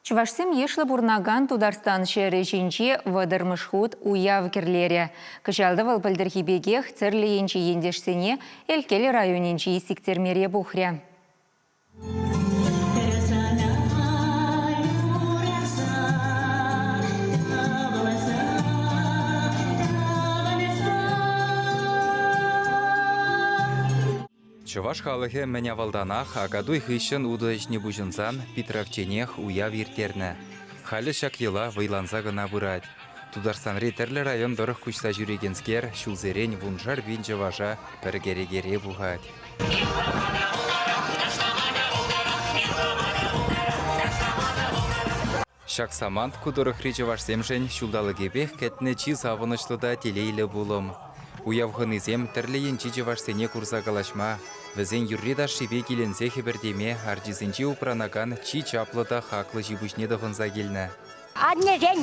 Чӑвашсем йышлӑ пурӑнакан Тутарстан ҫӗрӗ ҫинче вӑтӑрмӗш хут уяв кӗрлерӗ. Кӑҫал та вӑл пӗлтӗрхи пекех тӗрлӗ енчи ентешсене Элкел районӗнчи сиктермере пухрӗ. Чӑваш халӑхӗ мӗн авалтанах Акатуй хыҫҫӑн утӑ ӗҫне пуҫӑнсан питравчченех уяв ирттернӗ. Халӗ ҫак йӑла вӑйланса кӑна пырать. Тутарстанри тӗрлӗ район тӑрӑх куҫса ҫӳрекенскер ҫулсерен вуншар пин чӑваша пӗр кӗрекере пухать. Ҫак самант ку тӑрӑхри чӑвашсемшӗн ҫулталӑкӗпех кӗтнӗ чи савӑнӑҫлӑ та телейлӗ пулӑм. Уяв хӑнисем тӗрлӗ енчи чӑвашсене курса калаҫма, вӗсен юрри-ташшипе киленсе хӗпӗртеме арчисенче упранакан чи чаплӑ та хаклӑ ҫипуҫне тӑхӑнса килнӗ. Аннесен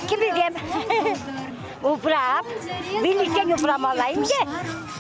кӗписем упра. Виличчен упрамалла-им те?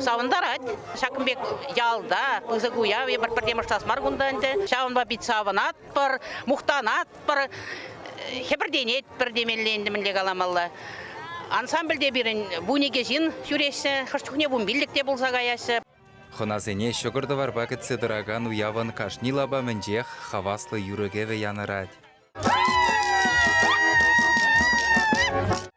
Савӑнтарать. Ҫакӑн пек ялта пысӑк уяв эпир пӗрре мӑшлас мар кунта ӗнтӗ. Ҫавӑнпа пит савӑнатпӑр, мухтанатпӑр, хӗпӗртенетпӗр темелле ӗнтӗ мӗнле каламалла. Ансамбльте пирӗн вун икӗ ҫын ҫӳреҫҫӗ, хӑш чухне вунпиллӗк те пулса каяҫҫӗ. Хӑнасене ҫӑкӑр-тӑварпа кӗтсе тӑракан уявӑн кашни лапамӗнчех хаваслӑ юрӑ-кӗвӗ янӑрать.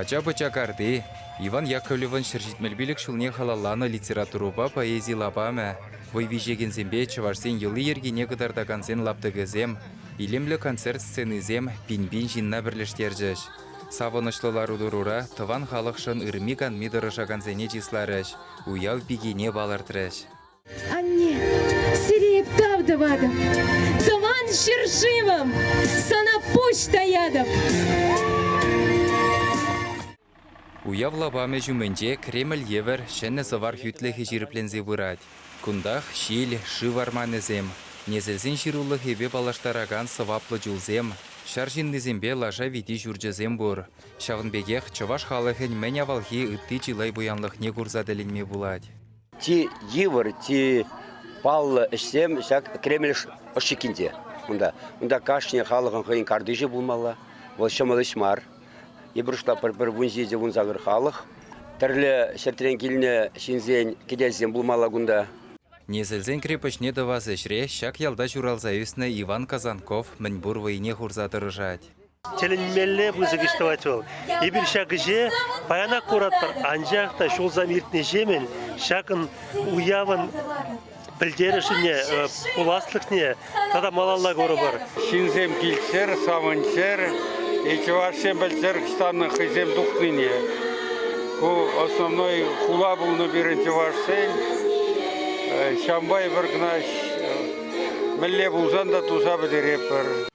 Ача-пӑча карти Иван Яковлевӑн ҫӗр ҫитмӗл пилӗк ҫулне халалланӑ литературӑпа поэзи лапамӗ, вӑй виҫекенсемпе чӑвашсен йӑли-йӗркине кӑтартакансен лаптӑкӗсем, илемлӗ концерт сценисем пин-пин ҫынна пӗрлештерчӗҫ. Савӑнӑҫлӑ лару-тӑрура тӑван халӑхшӑн ырми-канми тӑрӑшакансене чысларӗҫ, уяв пикине палӑртрӗҫ. Анне, сире эп тав тӑватӑп. Тӑван ҫӗршывӑм, сана пуҫ таятӑп. Уяв лапамӗ ҫумӗнче Кремль евӗр ҫӗнӗ сӑвар хӳтлӗхӗ ҫирӗпленсе пырать. Кунтах ҫил, шыв арманӗсем, несӗлсен ҫырулӑхӗпе паллаштаракан сӑваплӑ чулсем, ҫар ҫыннисемпе лаша вити ҫурчӗсем пур. Ҫавӑн пекех чӑваш халӑхӗн мӗн авалхи ытти чылай пуянлӑхне курса тӗлӗнме пулать. Чи йывӑр, чи паллӑ ӗҫсем ҫак Кремль ӑшчиккинче. Унта, унта кашни халӑхӑн хӑйӗн картишӗ пулмалла. Вӑл ҫӑмӑл ӗҫ мар. Йӑпӑрӑшла пӗр-пӗр вун ҫичӗ вун сакӑр халӑх. Тӗрлӗ ҫӗртрен килнӗ ҫынсен кӗтесӗсем пулмалла кунта. Несӗлсен крепоҫне тӑвас ӗҫре ҫак ялта ҫуралса ӳснӗ Иван Казанков мӗн пур вӑйне хурса тӑрӑшать. Тӗлӗнмелле пысӑк ӗҫ тӑвать вӑл. Эпир ҫак ӗҫе паянах куратпӑр, анчах та ҫулсем иртнӗҫемӗн ҫакӑн уявӑн пӗлтерӗшӗне, пуласлӑхне тата малалла курӑпӑр. Ҫынсем килччӗр, савӑнччӑр, чӑвашсем пӗлччӗр ӑҫтанна хӑйсем тухнине. Ку основной хула пулнӑ пирӗн чӑвашсен. Ҫамбай, Вӑркӑнаш мӗнле пулсан та туса пӗтеретпӗр.